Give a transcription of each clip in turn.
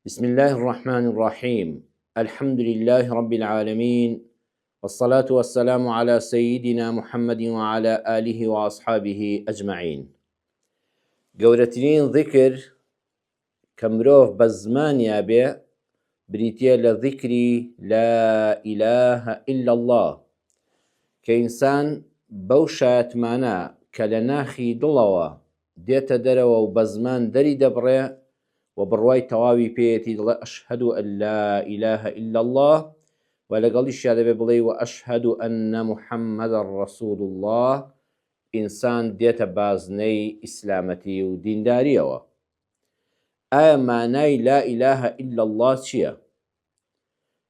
بسم اللە الرحمن الرحیم الحمد للە رب العالمین والصلاة والسلام علی سیدنا محمد وعلی آله وأصحابه أجمعین گەورەترین ذکر کە مرۆڤ بە زمانیا بێ بریتە لە ذکری لا إله إلا الله کە ئینسان بەو شایەتمانە کە لە ناخی دڵەوە دێتە دەرەوە و بە زمان دەری دەبڕێ و بڕوای تەواوی پێیەتی دەڵێ ئەشهەدو ئەن لا ئیلاهە ئیلا اللە و لەگەڵیشیا دەبێ بڵێی و ئەشهەدو ئەننە محەممەدا ڕەسول اللە ئینسان دێتە بازنەی ئیسلامەتی و دیندارییەوە. ئایا مانای لا ئیلاهە ئیلا اللە چییە؟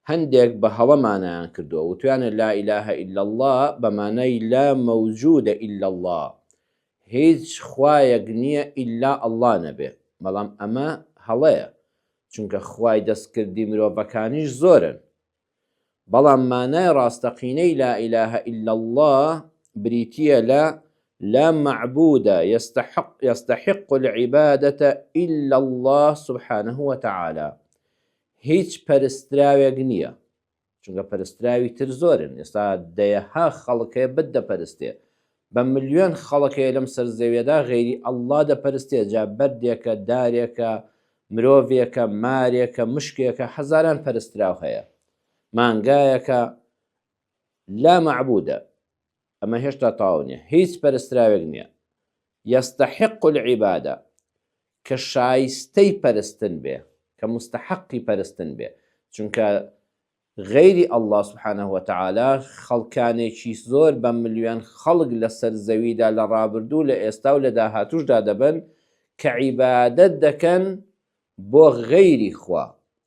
هەندێک بە هەڵە مانایان کردووە وتویانە لا إله إلا الله بە مانای لا موجود إلا الله هیچ خوایەک نییە ئیلا اللە نەبێ بەڵام ئەمە هەڵەیە چونکە خوای دەستکردی مرۆڤەکانیش زۆرن بەڵام مانای ڕاستەقینەی لا إله إلا الله بریتە لە لا معبود يستحق يستحق العبادة إلا الله سبحانه وتعالى هیچ پەرستراوێک نییە، چونکە پەرستراوی تر زۆرن، ئێستا دەیەها خەڵک هەیە بت دەپەرستێ، بە ملیۆن خەڵک هەیە لەم سەر زەویەدا غەیری اللە دەپەرستێ، جا بەردێکە، دارێکە، مرۆڤێکە، مارێکە، مشکێکە، هەزاران پەرستراو هەیە، مانگایەکە، لا معبودە. ئەمە هێشتا تەواو نیە هیچ پەرستراوێک نیە یستحق العبادە کە شایستەی پەرستن بێ کە مستحقی پەرستن بێ چونکە غەیری اللە سبحانە وتعالی خەڵکانێکی زۆر بە ملیۆن خەڵک لەسەر زەویدا لە ڕابردوو لە ئێستا و لە داهاتوشدا دەبن کە عیبادەت دەکەن بۆ غەیری خوا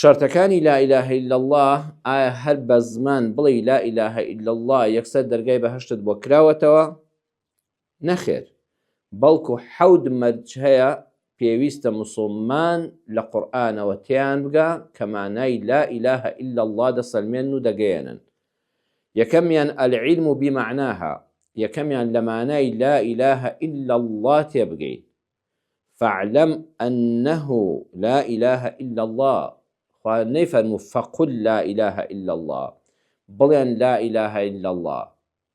شەرتەکانی لا الە الا اللە، ئایا هەر بە زمان بڵێی لا الە الا اللە یەکسەر دەرگای بەهەشتت بۆ کراوەتەوە؟ نەخێر، بەڵکو حەوت مەرج هەیە پێویستە موسڵمان لە قورئانەوە تێیان بگا کە مانای لا الە الا اللە دەسەلمێنن و دەگەیەنن. یەکەمیان العلم بمعناها، یەکەمیان لە مانای لا الە الا اللە تێبگەین. فاعلم انه لا اله الا اللە خوا نەیفەرموو فقل لا اله الا اللە بڵێن لا اله الا اللە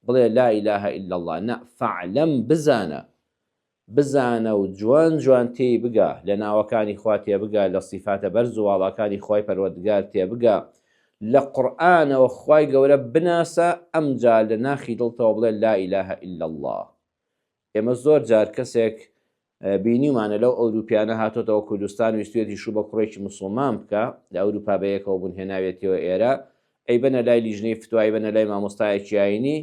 بڵێ لا اله الا اللە نا فاعلم بزانە بزانە و جوان جوان تێی بگا لە ناوەکانی خوا تێ بگا لە سیفاتە بەرز و واڵاکانی خوای پەروەردگار تێ بگا لە قورآانەوە خوای گەورە بناسە ئەمجا لە ناخی دڵتەوە بڵێ لا ئیلاهە ئیلا الله ئێمە زۆر جار کەسێک بینیمانە لەو ئەوروپیانە هاتۆتەوە کوردستان ویستێتی شو بە کوڕێکی مسلمان بکە لە ئەوروپا بەیەکەوە بوون هێناوێتەوە ئێرە ئەی بەنە لای لیژنەی فتوای بەنە لای مامۆستایەکی ئاینی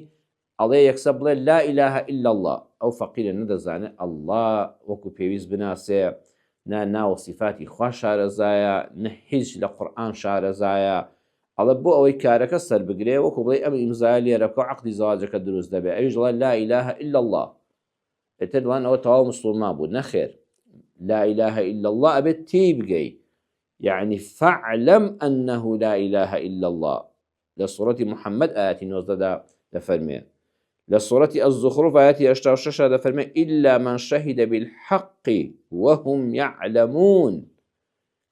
ئەڵێ یەکسە بڵێ لا ئیلاهە ئللا الله ئەو فەقیرە نەدەزانێت ئەله وەکو پێویست بناسێ نە ناوە سیفاتی خوا شارەزایە نە هیچ لە قورآن شارەزایە ئەڵێ بۆ ئەوەی کارەکە سەربگرێ وەکو بڵێی ئەم ئیمزایە لێرە بکەو عەقدی زەواجەکە دروست دەبێ ئەویش دەڵێ لا الە الا اللە ئیتر دەڵێن ئەوە تەواو مسوڵمان بوو نەخێر لا الە الا اللە ئەبێت تێی بگەی یعنی فاعلم انه لا الە الا اللە لە سوڕەتی محەممەد ئاەتی نۆزدەدا دەفەرمێ لە سوڕەتی الزخرف ئاەتی هشتا و شەشا دەفەرمێ ئیلا من شەهیدە بالحەقی وهم يعلمون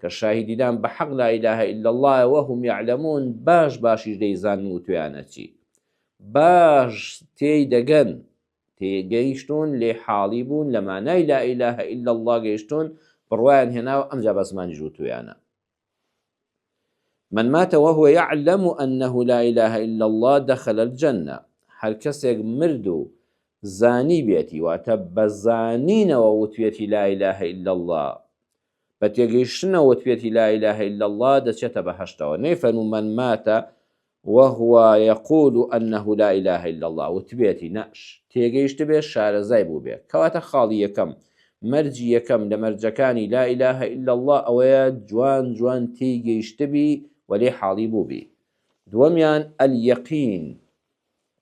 کە شاهیدیدان بە حەق لا ئیلاهە ئیلا اللەیە وەهم یەعلەمون باش باشیش دەیزانن و تویانە چی باش تێی دەگەن تێگەیشتون لێ حاڵی بوون لە مانای لا ئیلاهە ئیلا اللە گەیشتون بڕوایان هێناوە ئەمجا بە زمانی ژووتویانە من ماتە وهو يعلم أنه لا إله إلا الله دخل الجنة هەر کەسێک مرد و زانی بێتی واتە بەزانینەوە وتوێتی لا إله إلا الله بە تێگەیشتنە وتبێتی لا اله الا اللە دەچێتە بەهەشتەوە نەیفەرموو من مات وهو یقول انه لا اله الا اللە وتبێتی نە تێگەیشتبێ شارەزای بووبێ کەواتە خاڵی یەکەم مەرجی یەکەم لە مەرجەکانی لا اله الا اللە ئەوەیە جوان جوان تێی گەیشتبی و لێی حاڵی بووبی دووەمیان الیقین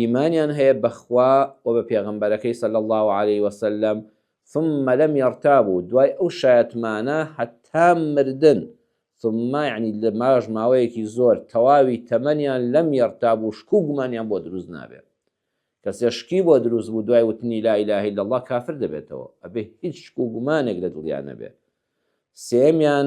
ئیمانیان هەیە بە خوا و بە پێغەمبەرەکەی صلی اللە علیە وسلم ثم لم یرتابوا دوای ئەو شایەتمانە هەتا مردن ثم یعنی لە ماش ماوەیەکی زۆر تەواوی تەمەنیان لم یرتابوا شک و گومانیان بۆ دروست نابێت کەسێ شکی بۆ دروست بوو دوای وتنی لا اله الا الله کافر دەبێتەوە ئەبێ هیچ شک و گومانێک لە دڵیان نەبێت سێمیان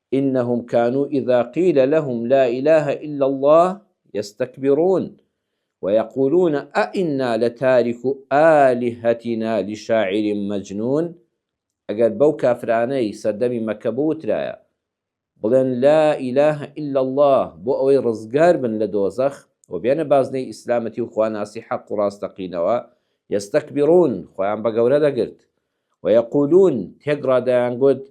انهم کانو اذا قیل لهم لا اله الا الله یستکبرون ویقولون ائنا لتارکو الهتنا لشاعر مجنون ئەگەر بەو کافرانەی سەردەمی مەکە بوترایە بڵێن لا اله الا اللە بۆ ئەوەی ڕزگار بن لە دۆزەخ و بێنە بازنەی ئیسلامەتی و خواناسی حەق و ڕاستەقینەوە یستکبرون خۆیان بە گەورە دەگرت ویقولون تێکڕا دەیانگوت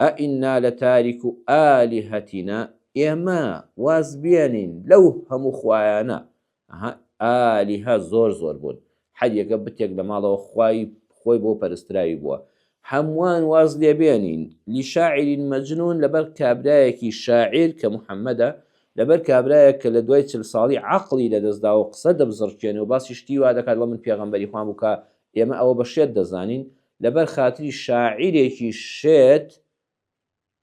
ئەئینا لەتاریکو ئالیهەتینا، ئێمە واز بێنین لەو هەموو خوایانە، ئەها ئالیهە زۆر زۆر بوون، هەریەکە بتێک لەماڵەوە خوای خۆی بۆ پەرستراوی بووە، هەمووان واز لێ بێنین، لشاعیر مەجنون لەبەر کابرایەکی شاعیر کە محەمەدە، لەبەر کابرایەک کە لەدوای چل ساڵی عەقڵی لەدەستداوەو قسە دەبزڕکێنێو باسی شتی وادەکات، ئەڵێ من پێغەمبەری خوام و کە ئێمە ئەوە بە شێت دەزانین، لەبەر خاتری شاعیرێکی شێت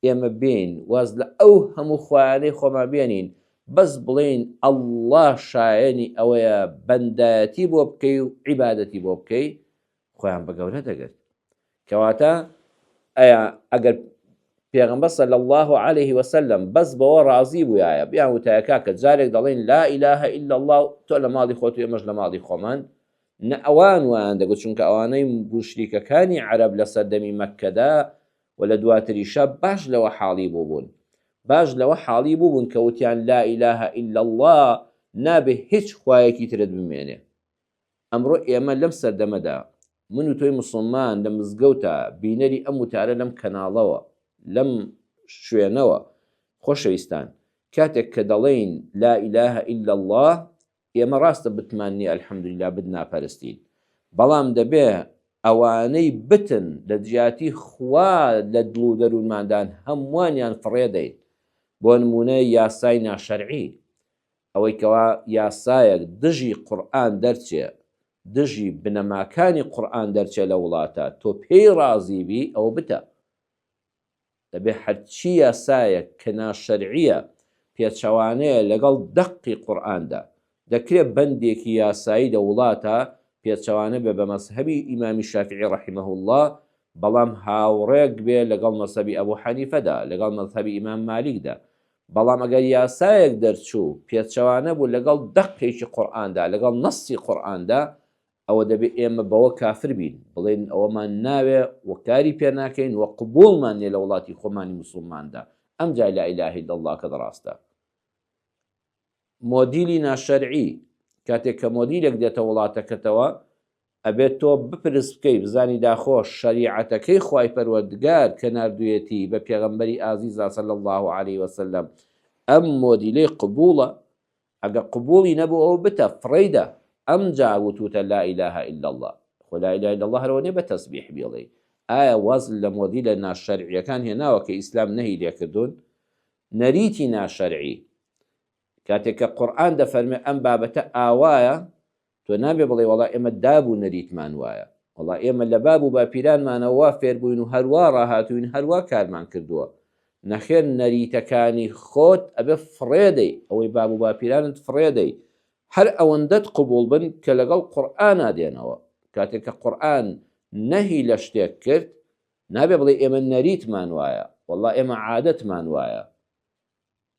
ئێمە بێین واز لە ئەو هەموو خوایانەی خۆمان بێنین بەس بڵین ئەله شایەنی ئەوەیە بەندایەتی بۆ بکەی و عیباەتی بۆ بکەی خۆیان بە گەورە دەگرت کەواتە ئەیا ئەگەر پێغمبە سەل الله عليه وسلم بەس بەوە ڕازی بووایە بیان وتایەکە کە جارێک دەڵێن لا ئیلاهە ئللا الله تۆ لە ماڵی خۆت و ئێمەش لە ماڵی خۆمان نە ئەوان وایان دەگوت، چونکە ئەوانەی موشریکەکانی عەرەب لە سەردەمی مەککەدا و لە دواتریشا باش لەوە حاڵی بووبوون، باش لەوە حاڵی بووبوون کە وتیان، لا الە الا اللە، نابێ هیچ خوایەکی ترت بمێنێ. ئەمڕۆ ئێمە لەم سەردەمەدا، من و تۆی موسڵمان لە مزگەوتا، بینەری ئەم وتارە لەم کەناڵەوە، لەم شوێنەوە، خۆشەویستان، کاتێک کە دەڵێین، لا الە الا اللە، ئێمە ڕاستە بتمان نیە الحمدللە بت ناپەرستین بەڵام دەبێ ئەوانەی بتن لەجیاتی خوا لە دڵ و دەروونماندان هەمووانیان فڕێدەین بۆ نمونە یاسای ناشەرعی ئەوەی کەوا یاسایەک دژی قورآن دەرچێ دژی بنەماکانی قورآن دەرچێ لە وڵاتە تۆ پێی ڕازیبی ئەوە بتە دەبێت هەرچی یاسایەک کە ناشەرعییە پێچەوانەیە لەگەڵ دەقی قورئاندا، دەکرێت بەندێکی یاسایی لە وڵاتە پێچەوانە بێت بە مەزهەبی ئیمامی شافیعی رحمە اللە بەڵام هاوڕێک بێت لەگەڵ مەزهەبی ئەبو حەنیفەدا، لەگەڵ مەزهەبی ئیمام مالیکدا، بەڵام ئەگەر یاسایەک دەرچوو پێچەوانە بوو لەگەڵ دەقێکی قورئاندا، لەگەڵ نەصی قورئاندا، ئەوە دەبێ ئێمە بەوە کافر بین، بڵێین ئەوەمان ناوێ و کاری پێ ناکەین و قبووڵمان نیە لە وڵاتی خۆمانی موسوڵماندا، ئەمجا لا الە الا اللەکەت ڕاستە. مۆدیلی ناشەرعی، کاتێک کە مۆدیلێک دێتە وڵاتەکەتەوە، ئەبێت تۆ بپرس بکەی بزانی داخۆ شەریعەتەکەی خوای پەروەردگار کە ناردوویەتی بە پێغەمبەری ئازیزا صلی اللە علیه وسلم ئەم مۆدیلەی قبووڵە؟ ئەگەر قبوڵی نەبوو ئەوە بتە فڕێیدە ئەمجا وتوتە لا الە الا اللە خۆ لا الە الا اللە هەرەوە نیە بە تەسبیح بیڵێی ئایا واز لە مۆدیلە ناشەرعیەکان هێناوە کە ئیسلام نەهی لێکردون نەریتی ناشەرعی کاتێک کە قورئان دەفەرمێ ئەم بابەتە ئاوایە تۆ نابێ بڵێی وەڵا ئێمە داب و نەریتمان وایە، وەڵا ئێمە لە باب و باپیرانمانەوە وا فێر بووین و هەر وا ڕاهاتووین، هەر وا کارمان کردووە. نەخێر نەریتەکانی خۆت ئەبێ فڕێدەی، ئەوەی باب و باپیرانت فڕێدەی. هەر ئەوەندەت قبووڵ بن کە لەگەڵ قورئانا دێنەوە. کاتێ کە قورئان نەهی لە شتێک کرد، نابێ بڵێی ئێمە نەریتمان وایە، وەڵا ئێمە عادەتمان وایە.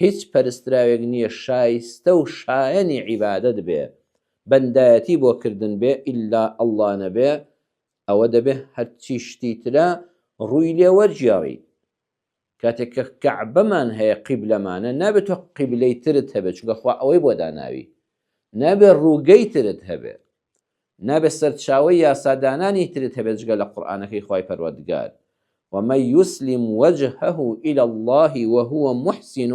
هیچ پەرستراوێک نیە شایستە و شایەنی عیبادەت بێ بەندایەتی بۆ کردن بێ ئیلا اللە نەبێ ئەوە دەبێ هەرچی شتی ترە ڕووی لێ وەرگێڕی کاتێک کە کەعبەمان هەیە قیبلەمانە نابێت تۆ قیبلەی ترت هەبێت چونکە خوا ئەوەی بۆ داناوی نابێ ڕووگەی ترت هەبێ نابێت سەرچاوەی یاسادانانی ترت هەبێت جگە لە قورئانەکەی خوای پەروەردگار، ومن یسلم وجهه الی اللە وهو محسن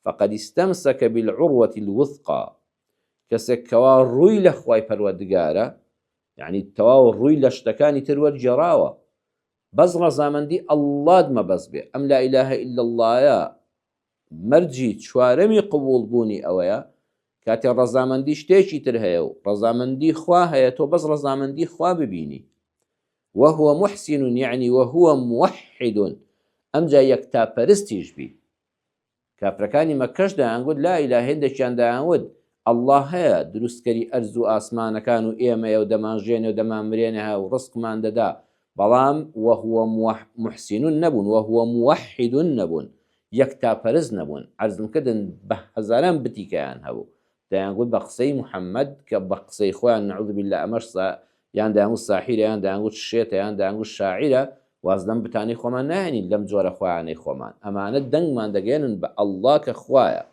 فقد استمسک بالعروة الوثقی، کەسێک کەوا ڕووی لە خوای پەروەردگارە، یەعنی تەواو ڕووی لە شتەکانی تر وەرگێڕاوە، بەس ڕەزامەندی اللە ت مەبەست بێ، ئەم لا الە الا اللە یە مەرجی چوارەمی قبوڵ بوونی ئەوەیە کاتێ ڕەزامەندی شتێکی تر هەیە و ڕەزامەندی خوا هەیە تۆ بەس ڕەزامەندی خوا ببینی وهو محسن یعنی وهو موحد ئەمجا یەکتاپەرستیش بی کافرەکانی مەککەش دەیانگوت لا ئیلاهە هێندێکیان دەیانوت اللە هەیە دروستکەری ئەرز و ئاسمانەکان و ئێمەیە و دەمانژێنێ و دەمانمرێنهه و ڕزقمان دەدا بەڵام وهو محسن نەبوون وهو موحد نەبوون یەکتاپەرست نەبوون عەرزم کردن بە هەزاران بتیکەیان هەبوو دەیانگوت بە قسەی محمد کە بە قسەی خۆیان نعوذ باللە ئەمەش سا یان دەیانگوت ساحیرە یان دەیانگوت شێتە یان دەیانگوت شاعیرە واز لەم بتانەی خۆمان ناهێنین لەم جۆرە خوایانەی خۆمان ئەمانە دەنگمان دەگەیەنن بە اللە کە خوایە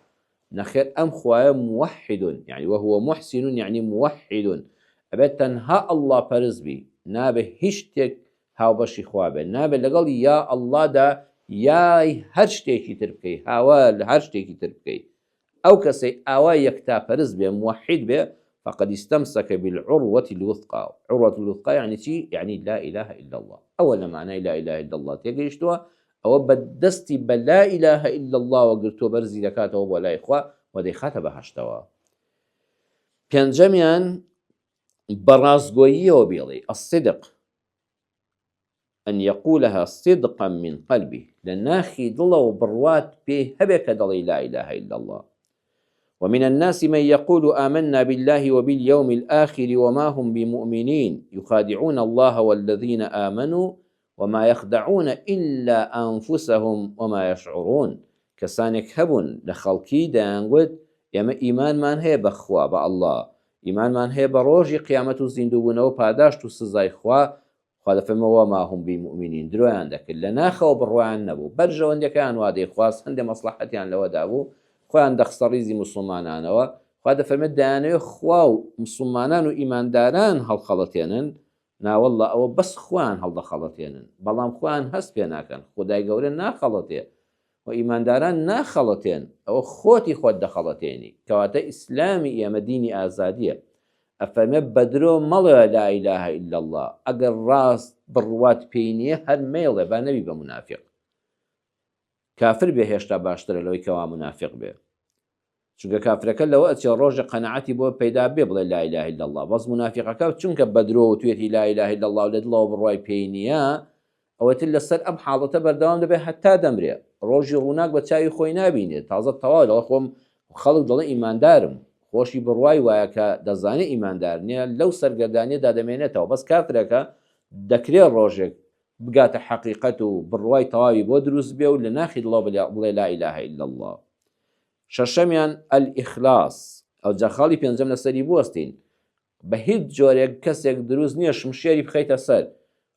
نەخێر ئەم خوایە موحد یەعنی وهو محسن یەعنی موحد ئەبێت تەنها اللە پەرست بی نابێت هیچ شتێک هاوبەشی خوا بێت نابێت لەگەڵ یا اللە دا یای هەر شتێکی تر بکەی هاوار لە هەر شتێکی تر بکەی ئەو کەسەی ئاوا یەکتا پەرست بێ موحد بێ فقد استمسك بالعروة الوثقى عروة الوثقى يعني چی يعني لا إله إلا الله ئەوە لە معنای لا إله إلا الله تێگەیشتووە ئەوە بە دەستی بە لا الە الا اللە وە گرتووە بەرزی دەکاتەوە بۆ لای خوا و دەیخاتە بەهشتەوە پێنجەمیان بەڕاستگۆییەوە بێڵی ئەسیدق ئەن یەقولها صدقا من قلبی لە ناخی دڵەوە بڕوات پێ هەبێ کە دەڵی لا اله الا الله ومن الناس من يقول آمنا بالله وباليوم الآخر وما هم بمؤمنين يخادعون الله والذين آمنوا وما یخدعون الا انفسهم وما یشعرون کەسانێک هەبوون لە خەڵکی دەیانگوت ئێمە ئیمانمان هەیە بە خوا، بە اللە، ئیمانمان هەیە بە ڕۆژی قیامەت و زیندووبوونەوە پاداشت و سزای خوا، خوا دەفەرمێ وما هم بمومنین درۆیان دەکرد لە ناخەوە بڕوایان نەبوو بەرژەوەندیەکەیان وا دەیخواست هەندێ مەسڵەحەتیان لەوەدا بوو خۆیان دەخستە ڕیزی موسڵمانانەوە خوا دەفەرمێت دەیانەوێت خوا و موسڵمانان و ئیمانداران هەڵخەڵەتێنن ناوەڵڵا ئەوە بەس خۆیان هەڵدەخەڵەتێنن بەڵام خۆیان هەست پێ ناکەن خودای گەورە ناخەڵەتێ و ئیمانداران ناخەڵەتێن ئەوە خۆتی خۆت دەخەڵەتێنی کەواتە ئیسلامی ئێمە دینی ئازادیە ئەفەرمێ بەدرۆ مەڵێ لا الە الا اللە ئەگەر ڕاست بڕوات پێی نییە هەر مەیڵێ با نەبی بە منافق کافر بێ هێشتا باشترە لەوەی کەوا منافق بێ چونکە کافرەکە لەوە ئەچێ ڕۆژێ قەناعەتی بۆ پەیدا بێ بڵێ لا اله الا اللە بەس مونافیقەکە چونکە بەدرۆ وتویەتی لا اله الا اللە و لە دڵەوە بڕوای پێی نییە ئەوەتر لەسەر ئەم حاڵەتە بەردەوام دەبێ هەتا دەمرێ ڕۆژی ڕووناک بە چاوی خۆی نابینێ تازە تەواو دەڵێ خۆم خەڵک دەڵێ ئیماندارم خۆشی بڕوای وایە کە دەزانێ ئیماندار نییە لەو سەرگەردانیە دادەمێنێتەوە بەس کافرەکە دەکرێ ڕۆژێک بگاتە حەقیقەت و بڕوای تەواوی بۆ دروست بێ و لە ناخی دڵەوە بڵێ لا اله الا اللە شەشەمیان، الاخلاص، ئەوجا خاڵی پێنجەم لەسەری بوەستین، بە هیچ جۆرێک کەسێک دروست نییە شمشێری بخەیتە سەر،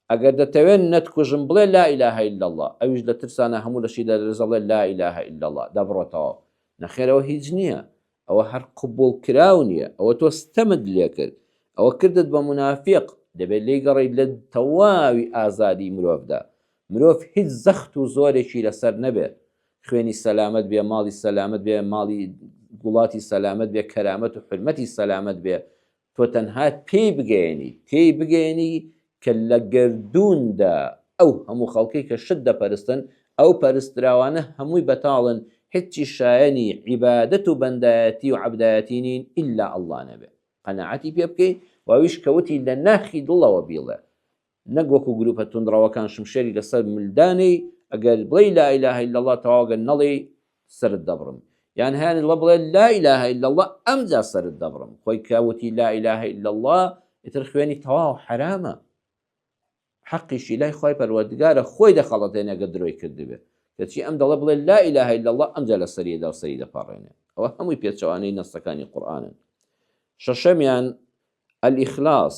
ئەگەر دەتەوێت نەتکوژم بڵێ لا الە الا اللە، ئەویش لە ترسانا هەموو لەشی دەلەرزە بڵێ لا الە الا اللە دەبڕێتەوە، نەخێر ئەوە هیچ نییە، ئەوە هەر قبوڵکراو نییە، ئەوە تۆ ستەمت لێکرد، ئەوە کردت بە مونافیق، دەبێت لێیگەڕێیت لە تەواوی ئازادی مرۆڤدا، مرۆڤ هیچ زەخت و زۆرێکی لەسەر نەبێت، خوێنی سەلامەت بێ، ماڵی سەلامەت بێ، ماڵی وڵاتی سەلامەت بێ، کەرامەت و حورمەتی سەلامەت بێ، تۆ تەنها پێی بگەیەنی، تێی بگەیەنی کە لە گەردووندا ئەو هەموو خەڵکەی کە شت دەپەرستن، ئەو پەرستراوانە هەمووی بەتاڵن، هیچی شایەنی عیبادەت و بەندایەتی و عەبدایەتی نین ئیلا اللە نەبێ. قەناعەتی پێ بکەی و ئەویش کە وتی لە ناخی دڵەوە بیڵێ، نەک وەکو گروپە توندڕەوەکان شمشێری لەسەر مل دانێی ئەگەر بڵێی لا اله الا اللە تەواو گەر نەڵێی سەرت دەبڕم یان هەیان اللە بڵێ لا اله الا اللە ئەمجا سەرت دەبڕم خۆی کە وتی لا اله الا اللە ئیتر خوێنی تەواو حرامە حەقیشی لای خۆی پەروەردگارە خۆی دەخەڵەتێنەگە درۆی کردبێ کەچی ئەم دەڵە بڵێ لا اله الا اللە ئەمجا لە سەریە دا و سەری دەپەڕێنێ ئەوە هەمووی پێچەوانەی نەستەکانی قورآانن شەشەمیان الاخلاص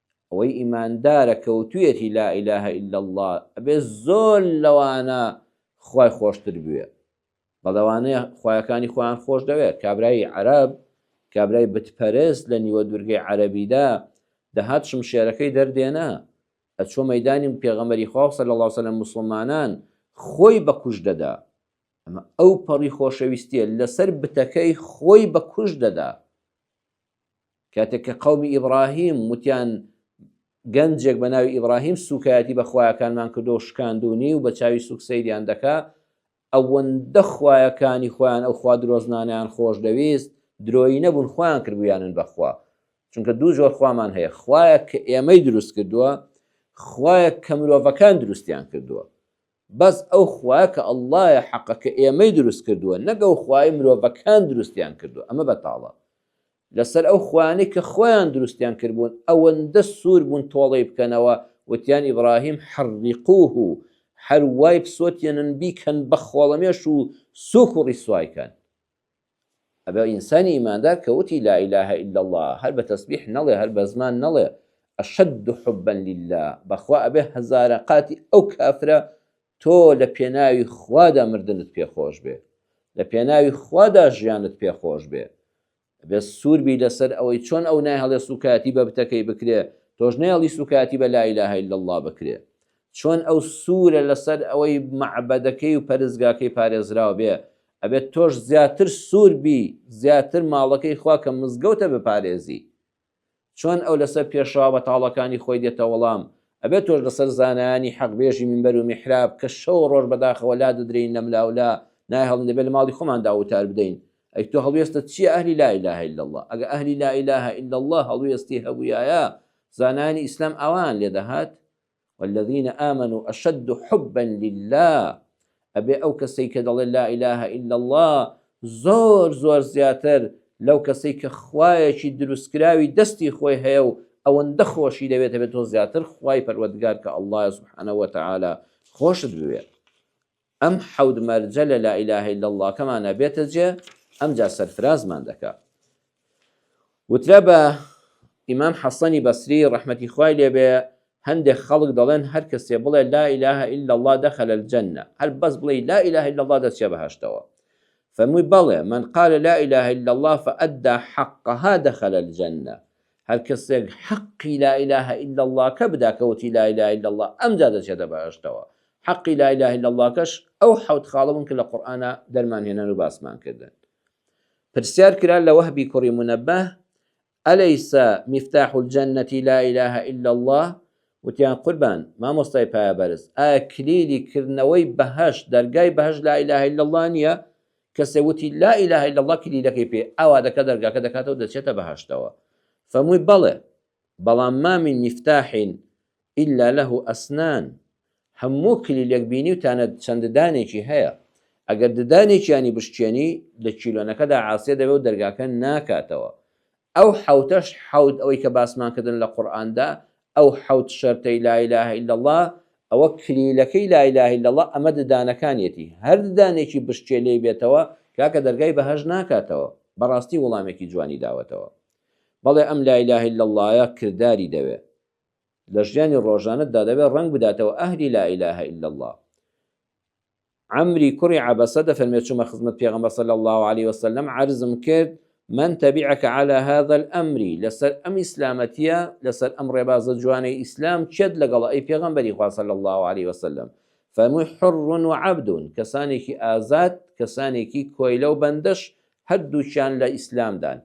ئەوەی ئیماندارە کەوتویەتی لا الە الا اللە ئەبێ زۆر لەوانە خوای خۆشتر بوێ بەڵەوانەیە خویەکانی خۆیان خۆش دەوێت کابرایی عەرب کابرای بتپەرست لە نیوە دوورگەی عەربیدا دەهات شمشێرەکەی دەردێنا ئەچۆ مەدانی پێغەمەری خواو سەل الله سەلم مسلمانان خۆی بەکوش دەدا ئەمە ئەو پەڕی خۆشەویستیە لەسەر بتەکەی خۆی بەکوش دەدا کاتێک کە قەومی ئیبراهیم وتیان گەنجێک بە ناوی ئیبراهیم سوکایەتی بە خویەکانمان کردو و شکاندونی و بە چاوی سوک سەیریان دەکا ئەوەندە خویەکانی خۆیان ئەو خوا درۆزنانیان خۆش دەویست درۆی نەبوون خۆیان کردبوویانن بەخوا چونکە دوو جۆر خوامان هەیە خوایەک کە ئێمەی دروست کردووە خوایەک کە مرۆڤەکان دروستیان کردووە بەس ئەو خوایە کە ئەللایە حەقە کە ئێمەی دروست کردووە نەگەو خوای مرۆڤەکان دروستیان کردووە ئەمە بەتاڵە لەسەر ئەو خوایانەی کە خۆیان دروستیان کردبوون ئەوەندە سوور بوون تۆڵەی بکەنەوە، وتیان ئیبراهیم حرقوه، هەر وای بسۆتێنن بیکەن بە خۆڵەمێش و سووک و ڕیسوای کەن. ئەبێ ئینسانی ئیماندار کە وتی لا الە الا اللە هەر بە تەسبیح نەڵێ هەر بە زمان نەڵێ اشد حبا للە بەخوا ئەبێ هەزارە قاتی ئەو کافرە تۆ لە پێناوی خوادا مردنت پێ خۆش بێ لە پێناوی خوادا ژیانت پێ خۆش بێ بێ سوور بی لەسەر ئەوەی چۆن ئەو نایهڵێ سوکایەتی بە بتەکەی بکرێ تۆش نەیەڵی سوکایەتی بە لا ئیلاهە ئیلا اللە بکرێ چۆن ئەو سوورە لەسەر ئەوەی مەعبەدەکەی و پەرستگاکەی پارێزراو بێ ئەبێت تۆش زیاتر سوور بی زیاتر ماڵەکەی خوا کە مزگەوتە بپارێزی چۆن ئەو لەسەر پێشەوا بەتاڵەکانی خۆی دێتە وەڵام، ئەبێ تۆش لەسەر زانایانی حەق بێژی مینبەر و میحراب کە شەو و ڕۆژ بەداخەوە لادەدرێین لەملاولا نایهڵین دەبێ لەماڵی خۆماندا وتار بدەین ئەی تۆ هەڵوێستت چیە ئەهلی لا الە الا اللە ئەگە ئەهلی لا الە الا اللە هەڵوێستی هەبویایە زانایانی ئیسلام ئاوایان لێدەهات والذین آمنوا اشد حبا للە ئەبێ ئەو کەسەی کە دەڵێ لا اله الا اللە زۆر زۆر زیاتر لەو کەسەی کە خوایەکی دروستکراوی دەستی خۆی هەیە و ئەوەندە خۆشی دەوێت هەبێت تۆ زیاتر خوای پەروەردگار کە اللە سبحانە وتعاالە خۆشت بوێت ئەم حەوت مەرجە لە لا الە الا اللە کەمان ئەبێتە جێ ئەمجا سەرفرازمان دەکا. وترا بە ئیمام حەسەنی بەسری ڕەحمەتی خوای لێ بێ هەندێک خەڵک دەڵێن هەر کەسێ بڵێ لا الە الا اللە دخل الجنە هەر بەس بڵێی لا الە الا اللە دەچێ بەهەشتەوە فەرمووی بەڵێ من قال لا الە الا اللە فادی حقها دخل الجنە هەر کەسێک حەقی لا الە الا اللە کە بدا کە وتی لا الە الا اللە ئەمجا دەچێتە بەهەشتەوە حەقی لا الە الا اللە کەش ئەو حەوت خاڵە بوون کە لە قورئانا دەرمان هێنان و باسمان کردن پرسیار کرا لە وەهبی کوڕی منەبه ئەلیس مفتاح الجنە لا الە الا اللە وتیان قوربان مامۆستای پایە بەرز ئایا کلیلی کردنەوەی بەهەش دەرگای بەهەش لا الە الا اللە نییە کەسێ وتی لا الە الا اللە کلیلەکەی پێ ئاوا دەکا دەرگاکە دەکاتەوە دەچێتە بەهەشتەوە فەمووی بەڵێ بەڵام ما من مفتاح الا له اسنان هەموو کلیلێک بینی و تانە چەند ددانێکی هەیە ئەگەر ددانێکیانی بشکێنی لە کیلۆنەکەدا عاسێ دەبێ و دەرگاکە ناکاتەوە ئەو حەوتەش حەوت ئەوەی کە باسمان کردن لە قورئاندا ئەو حەوت شەرتەی لا الە الا اللە ئەوە کلیلەکەی لا الە الا اللە ئەمە ددانەکانیەتی هەر ددانێکی بشکێ لێی بێتەوە کاکە دەرگای بەهەشت ناکاتەوە بەڕاستی وڵامێکی جوانی داوەتەوە بەڵێ ئەم لا الە الا اللە کرداری دەوێ لە ژیانی ڕۆژانەتدا دەبێ ڕەنگ بداتەوە ئەهلی لا الە الا اللە. عەمری کوڕی عەبەسە دەفەرمێت چوومە خزمەت پێغەمبەر صلی اللە علیە وسلم عەرزم کرد من تبعک علی هذا الامر لەسەر ئەم ئیسلامەتیە لەسەر ئەم ڕێبازە جوانەی ئیسلام کێت لەگەڵ ئەی پێغەمبەری خوا صلی اللە علیە وسلم فەرمووی حر و عبد کەسانێکی ئازاد کەسانێکی کۆیلە و بەندەش هەردووچیان لە ئیسلامدان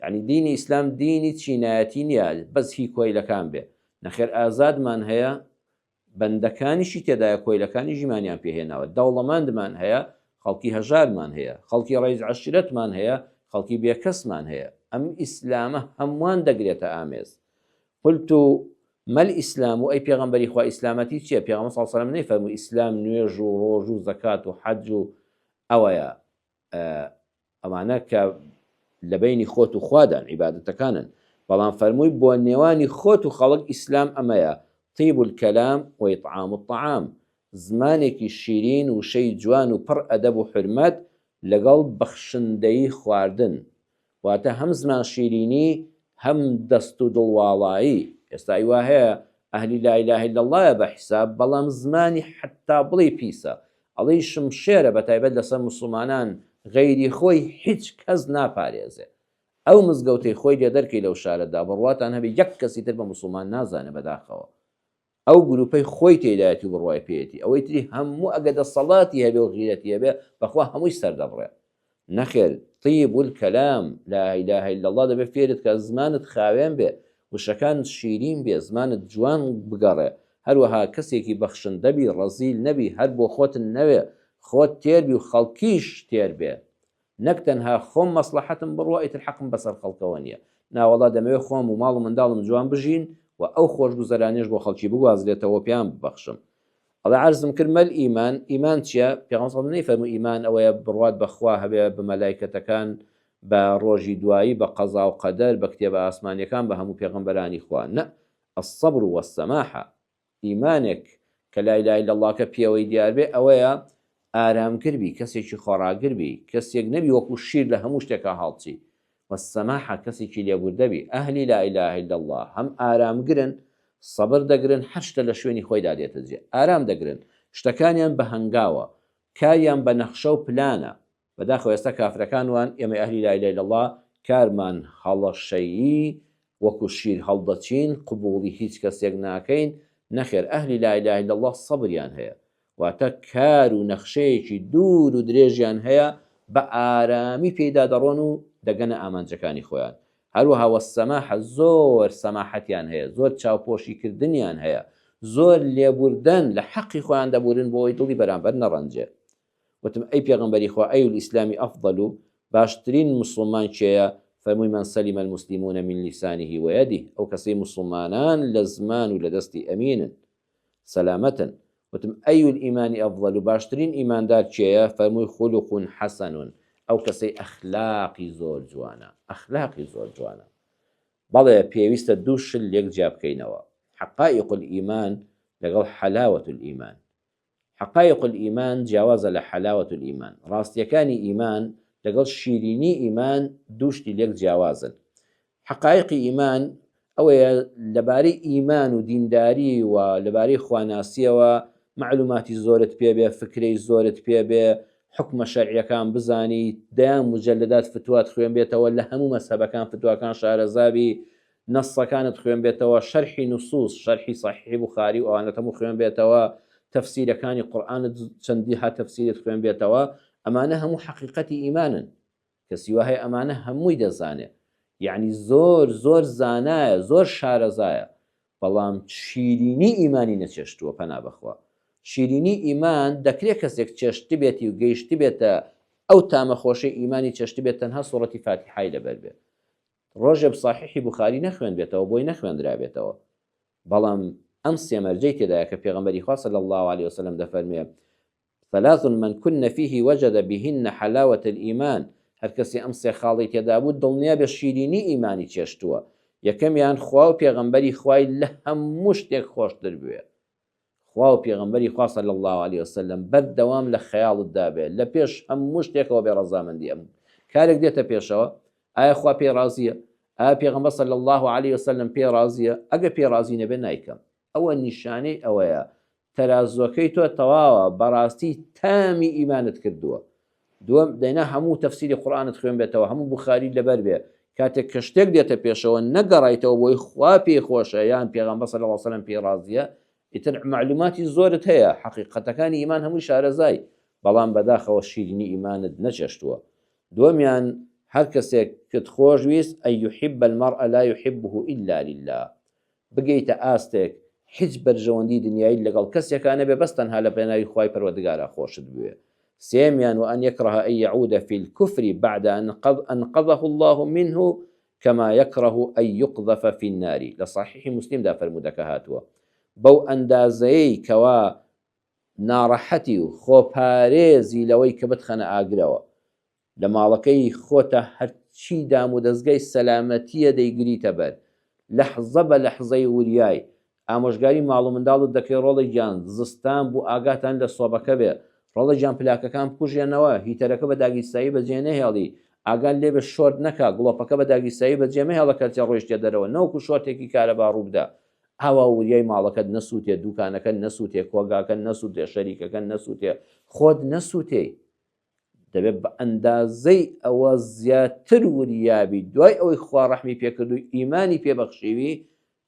یعنی دینی ئیسلام دینی چینایەتی نییە بەس هی کۆیلەکان بێ نەخێر ئازادمان هەیە بەندەکانیشی تێدایە کۆیلەکانی ژیمانیان پێ هێناوە، دەوڵەمەندمان هەیە، خەڵکی هەژارمان هەیە، خەڵکی ڕەئیس عەشیرەتمان هەیە، خەڵکی بێکەسمان هەیە، ئەم ئیسلامە هەمووان دەگرێتە ئامێز، قلت ما الاسلام و ئەی پێغەمبەری خوا ئیسلامەتی چیە، پێغەمبەر صلی اللە علیە وسلم نەیفەرموو ئیسلام نوێژ و ڕۆژ و زەکات و حەج و ئەوەیە، ئەمانە کە لە بینی خۆت و خوادان عیبادەتەکانن بەڵام فەرمووی بۆ نێوانی خۆت و خەڵک ئیسلام ئەمەیە طیب الکەلام و ئیطعام الطعام زمانێکی شیرین وشەی جوان و پڕ ئەدەب و حورمەت لەگەڵ بەخشندەیی خواردن واتە هەم زمان شیرینی هەم دەست و دڵ واڵایی ئێستا ای وا هەیە ئەهلی لا اله الا اللە یە بە حیساب بەڵام زمانی حەتا بڵێی پیسە ئەڵێی شمشێرە بە تایبەت لەسەر موسڵمانان غەیری خۆی هیچ کەس ناپارێزێ ئەو مزگەوتەی خۆی لێ دەرکەی لەو شارەدا بڕواتان هەبێ یەک کەسی تر بە موسڵمان نازانێ بەداخەوە ئەو گروپەی خۆی تێدایەتی و بڕوای پێیەتی ئەوەی تری هەموو ئەگە دەسەڵاتی هەبێ و غیرەتی هەبێ بەخوا هەمووی سەردەبڕێ نەخێر طیب الکلام لا اله الا اللە دەبێ فێرت کە زمانت خاوێن بێ وشەکانت شیرین بێ زمانت جوان بگەڕێ هەروەها کەسێکی بەخشندە بی ڕەزیل نەبی هەر بۆخۆت نەوێ خۆت تێر بی و خەڵکیش تێر بێ نەک تەنها خۆم مەسڵەحەتم بڕوا ئیتر حەقم بەسەر خەڵکەوە نیە، ناوەڵا دەمەوێت خۆم و ماڵ و منداڵم جوان بژین و ئەو خۆشگوزەرانیەش بۆ خەڵکی بگوازرێتەوەو پێیان ببەخشم. ئەڵێ عەرزم کرد مەل ئیمان، ئیمان چیە؟ پێغەمبەر سەڵ نەیفەرموو ئیمان ئەوەیە بڕوات بە خوا هەبێت، بە مەلایکەتەکان، بە ڕۆژی دوایی، بە قەزاو قەدەر، بە کتێبە ئاسمانیەکان، بە هەموو پێغەمبەرانی خوا. نە، الصبر والسماحە، ئیمانێک کە لا الە الا اللەکە پێوەی دیار بێ ئەوەیە ئارامگر بی کەسێکی خۆڕاگر بی کەسێک نەبی وەکو شیر لە هەموو شتێکا هەڵچی و سەماحە کەسێکی لێبوردە بی ئەهلی لا الە الا اللە هەم ئارامگرن سەبر دەگرن هەر شتە لە شوێنی خۆیدا دێتە جێ ئارام دەگرن شتەکانیان بە هەنگاوە کاریان بە نەخشە و پلانە بەداخەوە ئێستا کافرەکان وان ئێمەی ئەهلی لا الە الا اللە کارمان هەڵەشەیی وەکو شیر هەڵدەچین قبوڵی هیچ کەسێک ناکەین نەخێر ئەهلی لا الە الا اللە سەبریان هەیە واتە کار و نەخشەیەکی دوور و درێژیان هەیە بە ئارامی پێیدا دەڕۆن و دەگەنە ئامانجەکانی خۆیان هەروەها وەسەماحە زۆر سەماحەتیان هەیە زۆر چاوپۆشی کردنیان هەیە زۆر لێبوردەن لە حەقی خۆیان دەبورن بۆ ئەوی دڵی بەرامبەر نەڕەنجێ وتم، ئەی پێغەمبەری خوا، ای الاسلام افضل، باشترین موسڵمان کێیە؟ فەرمووی، من سلم المسلمون من لسانه و یده، ئەو کەسەی موسڵمانان لە زمان و لە دەستی ئەمینن، سەلامەتن. وتم، ای الایمان افضل، باشترین ئیماندار کێیە؟ فەرمووی، خلق حسن، ئەو کەسەی ئەخلاقی زۆر جوانە، ئەخلاقی زۆر جوانە. بەڵێ پێویستە دوو شل لێک جیا بکەینەوە، حقائق الایمان لەگەڵ حلاوە الایمان. حقائق الایمان جیاوازە لە حلاوە الایمان، ڕاستییەکانی ئیمان لەگەڵ شیرینی ئیمان دوو شتی لێک جیاوازن. حقائقی ئیمان ئەوەیە لەبارەی ئیمان و دینداری و لەبارەی خواناسییەوە مەعلوماتی زۆرت پێبێ، فکرەی زۆرت پێبێ، حوکمە شەرعییەکان بزانیت، دەیان موجەلەدات فتوات خوێنبێتەوە، لە هەموو مەزهەبەکان فتواکان شارەزا بی، نەسەکانت خوێن بێتەوە شەرحی نسوس شەرحی سەحیحی بوخاری و ئەوانەت هەموو خوێن بێتەوە تەفسیرەکانی قورئانت چەندیها تەفسیرت خوێن بێتەوە ئەمانە هەموو حەقیقەتی ئیمانن کەسی وا هەیە ئەمانە هەمووی دەزانێ یعنی زۆر زۆر زانایە زۆر شارەزایە بەڵام شیرینی ئیمانی نەچێشتووە پەنا بەخوا شیرینی ئیمان دەکرێت کەسێک چێشت بێتی و گەیشت بێتە ئەو تامە خۆشەی ئیمانی چێشت بێت تەنها سوڕەتی فاتیحای لەبەر بێت ڕۆژێب ساحیحی بوخاری نەخوێنبێتەوە بۆی نەخوێندرابێتەوە بەڵام ئەم سێ مەرجەی تێدایە کە پێغەمبەری خوا صلی الله علیه وسلم دەفەرموێ ثلاث من كن فيه وجد بهن حلاوة الإيمان هەر کەسی ئەم سێ خاڵی تێدا بوو دڵنیا بە شیرینی ئیمانی چێشتووە یەکەمیان خوا و پێغەمبەری خوای لە هەموو شتێک خۆشتر بوێ خوا و پێغەمبەری خوا صلی اللە علیە وسلم بەردەوام لە خەیاڵت دابێ لە پێش هەموو شتێکەوە بێ ڕەزامەندی ئەم کارێک دێتە پێشەوە ئایا خوا پێی ڕازیە ئایا پێغەمبەر صلی اللە علیە وسلم پێ ڕازیە ئەگە پێ ڕازی نەبێ نایکەم ئەوە نیشانەی ئەوەیە تەرازوەکەی تۆ تەواوە بەڕاستی تامی ئیمانت کردووە دووەم، دەینا هەموو تەفسیری قورئانت خوێنبێتەوە، هەموو بوخاری لەبەر بێ، کاتێک کە شتێک دێتە پێشەوە نەگەڕایتەوە بۆی خوا پێی خۆشە یان پێغەمبەر صلی اللە علیە وسلم پێی ڕازیە، ئیتر مەعلوماتی زۆرت هەیە، حەقیقەتەکانی ئیمان هەمووی شارەزای، بەڵام بەداخەوە شیرینی ئیمانت نەچێشتووە. دووەمیان، هەر کەسێکت خۆش ویست، ان یحب المرء لا یحبه الا للە، بگەیتە ئاستێک هیچ بەرژەوەندی دنیایت لەگەڵ کەسێکا نەبێ بەس تەنها لە پێناوی خوای پەروەردگارا خۆشت بوێ سێمیان وان یکره ان یعود فی الکفر بعد ان قد انقذه اللە منه کما یکره ان یقذف فی النار لە صحیح مسلم دا فەرموودەکە هاتووە بەو ئەندازەیەی کەوا ناڕەحەتی و خۆپارێزی لەوەی کە بتخەنە ئاگرەوە لە ماڵەکەی خۆتە هەرچی دام و دەزگای سەلامەتیە دەیگریتە بەر لەحزە بە لەحزەی وریای ئامۆژگاری ماڵ و منداڵت دەکەی ڕۆڵە گیان زستان بوو ئاگاتان لە سۆبەکە بێ ڕۆڵە گیان پلاکەکان بکوژێنەوە هیتەرەکە بە داگیرساوی بەجێ نەهێڵی ئاگات لێبێ شۆرت نەکا گڵۆپەکە بە داگیرساوی بەجێ مەهێڵە کەرتێ ڕۆیشتە دەرەوە نەوەکو شۆرتێکی کارەبا ڕووبدا ئاوا وریای ماڵەکەت نەسووتێ دووکانەکەت نەسووتێ کۆگاکەت نەسووتێ شەریکەکەت نەسووتێ خۆت نەسووتێی دەبێت بە ئەندازەی ئەوە زیاتر وریابی دوای ئەوەی خوا ڕەحمی پێکرد و ئیمانی پێبەخشیوی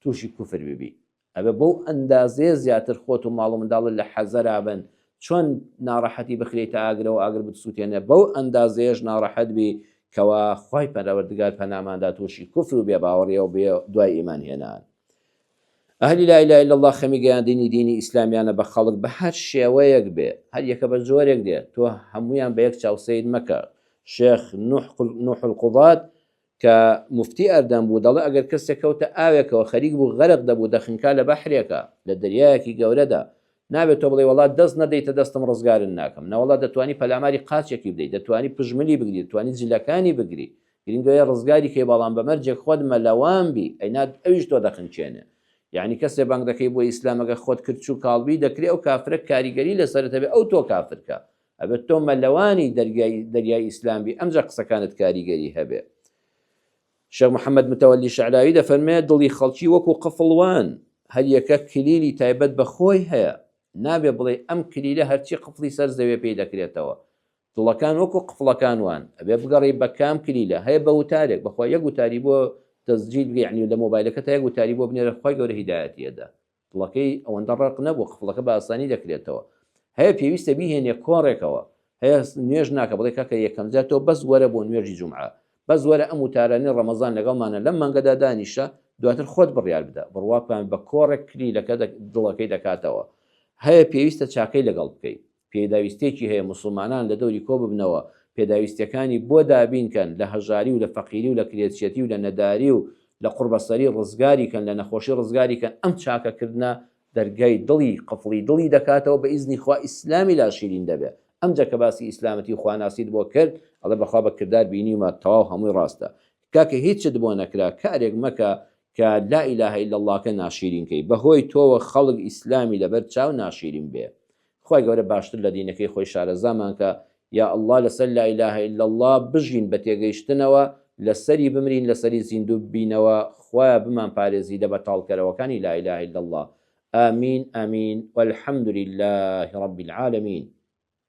تووشی کوفر ببی ئەبێ بەو ئەندازەیە زیاتر خۆت و ماڵ و منداڵت لە حەزەرا بن چۆن ناڕەحەتی بخرێت تا ئاگرەوە ئاگر بتسووتێنێ بەو ئەندازەیەش ناڕەحەت بی کەوا خی پەرەوەردگار پەناماندا تووشی کوفر و بێ باوەڕیەوە بێ دوای ئیمان هێنان ئەهلی لا اله الا اللە خەمی گەیاندنی دینی ئیسلامیانە بە خەڵک بە هەر شێوەیەک بێ هەر یەکە بە جۆرێک دێ تۆ هەمویان بە یەک چاو سەیر مەکە شێخ نوح القضات کە مفتی ئەردەم بوو دەڵێ ئەگەر کەسێک کەوتە ئاوێکەوە خەریک بوو غەرق دەبوو دەخنکا لە بەحرێکە لە دەریایەکی گەورەدا نابێت تۆ بڵێ وڵات دەست نەدەیتە دەستم ڕزگارن ناکەم نەوەڵات دەتوانی پەلاماری قاچێکی بدەیت دەتوانی پژملی بگری توانی جلەکانی بگری گرنگەیە ڕزگاری کەی بەڵام بە مەرجێک خۆت مەلەوان بی ئەینا ئەویش تۆ دەخنکێنێ یەعنی کەسێ بانگ دەکەی بۆ ئیسلام ئەگەر خۆت کرچ و کاڵ بی دەکرێ ئەو کافرە کاریگەری لەسەرت هەبێ ئەو تۆ کافر کا ئەبێت تۆ مەلەوانی دەرگای دەریای ئیسلام بی ئەمجا قسەکانت کاریگەری هەبێ شێخ محەممەد متەوەلی شعراوی دەفەرمێ دڵی خەڵکی وەکو قفڵ وان هەر یەکە کلیلی تایبەت بە خۆی هەیە نابێ بڵێ ئەم کلیلە هەرچی قفڵی سەر زەوێ پێی دەکرێتەوە دڵەکان وەکو قفڵەکان وان ئەبێ بگەڕێی بە کام کلیلە هەیە بە وتارێک بەخوا یەک وتاری بۆ تەسجیل بگە یعنی لە مۆبایلەکەتا یەک وتاری بۆ بنێرە خوای گەورە هیدایەتی ئەدا دڵەکەی ئەوەندە ڕەق نەبوو قفڵەکە بە ئاسانی دەکرێتەوە هەیە پێویستە بیهێنێ کۆڕێکەوە هەیە نوێژ ناکە بڵێ کاکە یەکەم جار تۆ بەس وەرە بۆ نوێژی جومعە بەس وەرە ئەم وتارانەی ڕەمەزان لەگەڵمانە لەم مانگەدا دانیشە دواتر خۆت بڕیار بدە بڕواپان بە کۆڕێک کلیلەکە دڵەکەی دەکاتەوە هەیە پێویستە چاکەی لەگەڵ بکەیت پێداویستیەکی هەیە موسڵمانان لە دەوری کۆ ببنەوە پێداویستیەکانی بۆ دابین کەن لە هەژاری و لە فەقیری و لە کرێچیەتی و لە نەداری و لە قوڕبەسەری ڕزگاری کەن لە نەخۆشی ڕزگاری کەن ئەم چاکە کردنە دەرگای دڵی قفڵی دڵی دەکاتەوە بە ئیزنی خوا ئیسلامی لا شیرین دەبێ ئەمجا کە باسی ئیسلامەتی و خواناسیت بۆ کرد ئەڵێ بەخوا بە کردار بینیومە تەواو هەمووی ڕاستە کاکە هیچت بۆ نەکرا کارێک مەکە کە لا الە الا اللە کە ناشیرین کەی بەهۆی تۆوە خەڵک ئیسلامی لەبەر چاو ناشیرین بێ خوای گەورە باشتر لە دینەکەی خۆی شارەزامان کە یا اللە لەسەر لا اله الا اللە بژین بە تێگەیشتنەوە لەسەری بمرین لەسەری زیندوو ببینەوە خوایە بمان پارێزی لە بەتاڵکەرەوەکانی لا اله الا اللە آمین آمین والحمد للە رب العالمین